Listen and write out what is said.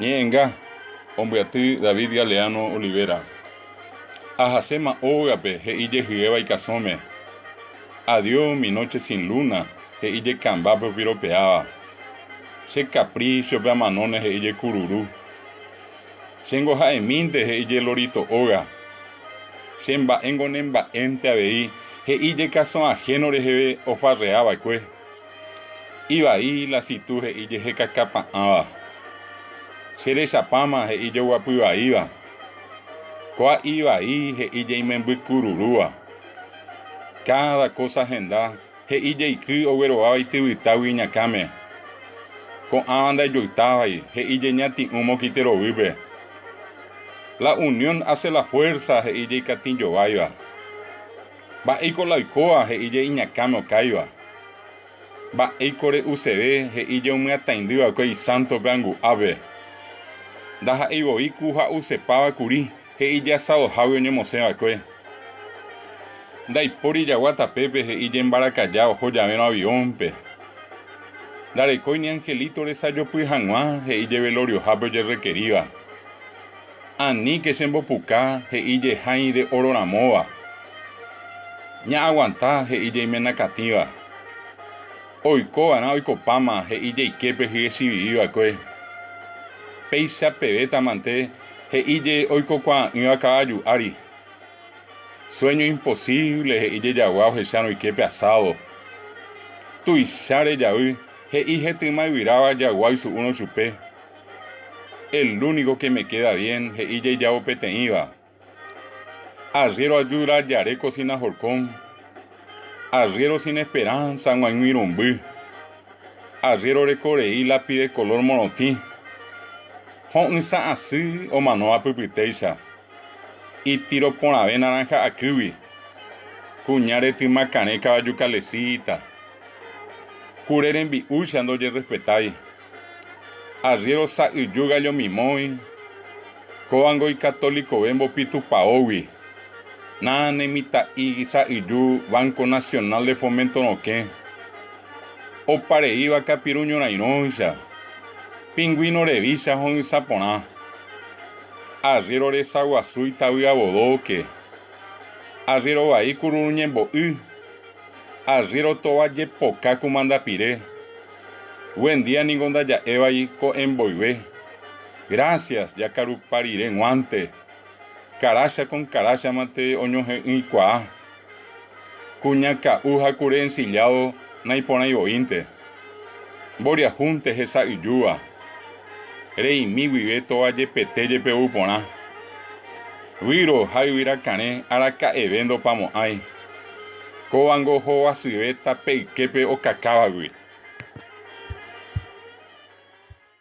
Ñe'ẽnga, ombyaty David Galeano Olivera. Ahaséma ógape he'i jehyéva ikasõme, Adiós mi noche sin luna he'i jekambápe opiropeáva, che kaprísiope amanóne he'i jekururu, chéngo ha'emínte he'i jelorito óga, che mba'éngo nemba'énte avei he'i jekasõahéno reheve ofarreava'ekue. Ivai la Situ he'i jehekakapa'ãva, Che rechapáma he'i joguapy vaíva, Kóa ivai he'i jeimemby kururúva. Káda kósa henda he'i jeiky oguerováva ityvytágui iñakãme. Ko'ãva ndaijoytávai he'i jeñati'ũ mokite rovýpe. La unión hace la fuerza he'i jeikatĩjováiva. Mba'éiko la oikóva, he'íje iñakãme okáiva. Mba'éiko re'useve, he'íje omyatãindy va'ekue isánto py'angu'ápe. Ndaha'éi voi ku ha ousepáva kuri, he'íje asadohágui oñemosẽ va'ekue. Ndaipóri jagua tapépe, he'íje mbarakaja oho javérõ aviónpe. Ndarekói ni angelito resajopy hag̃ua, he'íje veloriohápe ojerrekeríva. Aníke chembopuka he'i jehãi de óro ramóva, ñaaguanta he'i jeimenakatĩva. Oiko va'erã oikopáma he'i jeike pe hyechiviri va'ekue. Péicha pevétamante he'i je oikokuaa'ỹva kavaju ári. Sueño imposíble he'i je jagua ohechárõ oike pe asádo. Tuicha rejavy he'i hetỹma yvyráva jagua oisu'úrõ chupe. El único que me queda bien he'i jaijávo peteĩva. Arriero ajuda jaréko sina horcón, arriero sin esperanza g̃uaig̃ui romby, arriero reko rei lápide color morotĩ, ho'ysã asy omanóva pypytéicha, itiro porãve naranja akýgui, kuña retyma karẽ kavaju calesita, kure rembi'úicha ndojerrespetái. Arriéro sa'yju gallomimói, kóvango ikatolikove mbopi tupaógui, na ne mitã'i sa'yju Banco Nacional de Fomento rokẽ, opareíva kapiru ñorairõicha, pingüino revícha ho'ysã porã. Arriéro resaguasu itavy avodóke, arriéro vai kururu ñembo'y, arriéro tova jepoka kumandapire. Buendía ningo ndaja'évai ko'ẽ mboyve. Grásias, jakarupa rire guánte. Karácha kon karácha mante oñohe'ỹikuaa. Kuña ka'u ha kure ensilládo naiporãivoínte. Mboriahúnte hesa'yjúva. Reimi guive tóva jepete jepe ou porã. Výro ha yvyrakarẽ araka'eve ndopamo'ãi. Kóvango hovasyvéta pe yképe okakávagui.